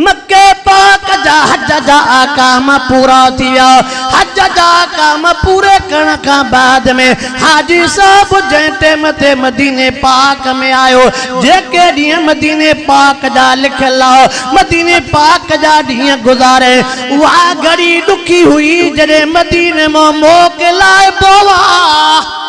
مڪي پاڪ جا حج جا احڪام پورا ٿي ويا. حج جا احڪام پوري ڪرڻ کان بعد ۾ حاجي صاحب جنهن ٽيم تي مديني پاڪ ۾ آيو، جيڪي ڏينهن مديني پاڪ جا لکيل ها، مديني پاڪ جا ڏينهن گذاري. اها گهڙي ڏکي هئي جڏهن مديني مان موڪلائبو ها.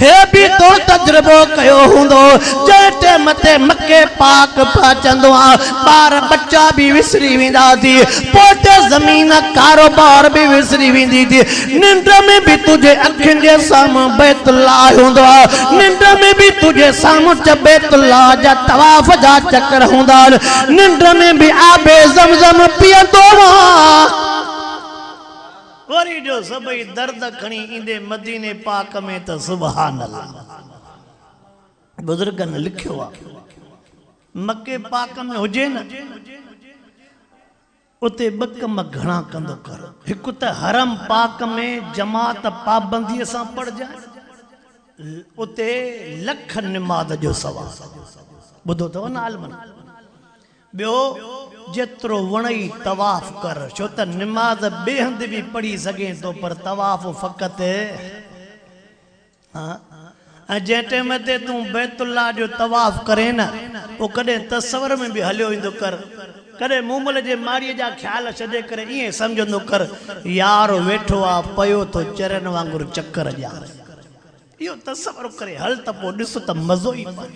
هي به تو تجربو ڪيو هوندو جنهن ٽيم تي مڪي پاڪ پهچندو آ ٻار ٻچا به وسري ويندا ٿي پوئتي زمين ڪاروبار به وسري ويندي ٿي ننڊ ۾ به تنهنجي اکين جي سامهون بيت الله هوندو آ ننڊ ۾ به تنهنجي سامهون چه بيت الله جا طواف جا چڪر هوندا آهن ننڊ ۾ به آب زمزم پيئندو آ. وري جو سڀئي درد کڻي ايندي مديني پاڪ ۾ ته سبحان الله بزرگن لکيو آ مڪي پاڪ ۾ هجي نه اتي ٻه ڪم گهڻا ڪندو ڪر هڪ ته حرم پاڪ ۾ جماعت پابندي سان پڙهجانء اتي لک نماز جو ثواب ٻڌو اٿئو نه عالمن ٻيو، جيترو وڻئي طواف ڪر، ڇو ته نماز ٻئي هنڌ به پڙهي سگهين ٿو پر طواف فقط ها ۽ جنهن ٽيم تي تون بيت الله جو طواف ڪرين نه پوء ڪڏهن تصور ۾ به هليو ايندو ڪر، ڪڏهن مومل جي ماڙيء جا خيال ڇڏي ڪري ائين سمجهندو ڪر، يار ويٺو آ پيو ٿو چرين وانگر چڪر ڏيان، اهو تصور ڪري هل ته پوء ڏس ته مزو ئي پاڻ.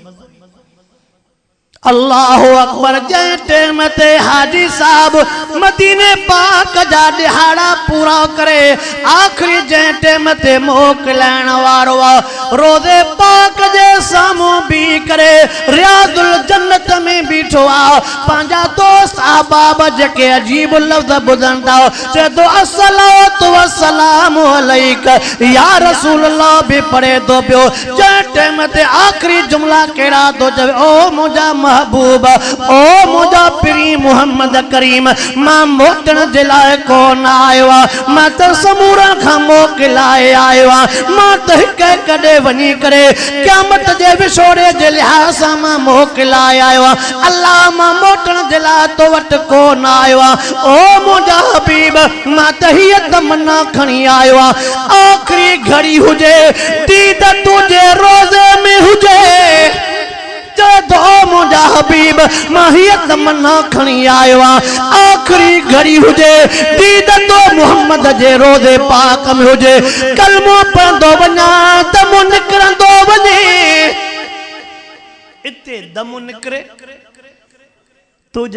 الله اڪبر جنهن ٽيم تي حاجي صاحب مديني پاڪ جا ڏهاڙا پورا ڪري آخري جنهن ٽيم تي موڪلائڻ وارو آ روضي پاڪ جي سامهون بيهي ڪري رياض الجنت ۾ بيٺو آ پنهنجا دوست احباب جيڪي عجيب لفظ ٻڌن ٿا چئي ٿو الصلوة والسلام عليك يا رسول الله به پڙهي ٿو پيو جنهن ٽيم تي آخري جملا ڪهڙا ٿو چوي، او منهنجا محبوب، او منهنجا پرين محمد ڪريم، مان موٽڻ جي لاء ڪو نه آيو آهيان، مان ته سمورن کان موڪل لاء آيو آهيان، مان ته هڪ هڪ ڏي وڃي ڪري قيامت جي وڇوڙي جي لحاظ سان مان موڪل لاء آيو آهيان، الله مان موٽڻ جي لاء تو وٽ ڪو نه آيو آهيان، او منهنجا حبيب، مان ته هيء تمنا کڻي آيو آهيان. آخري گهڙي هجي، ديد تنهنجي روضي ۾ هجي، چئه دعا منهنجا حبيب، مان هيء تمنا کڻي آيو آهيان. آخري گهڙي هجي، ديد تو محمد جي روضي پاڪ ۾ هجي، ڪلمو پڙهندو وڃان ته منهن نڪرندو وڃي، اتي دم نڪري، تنهنجا.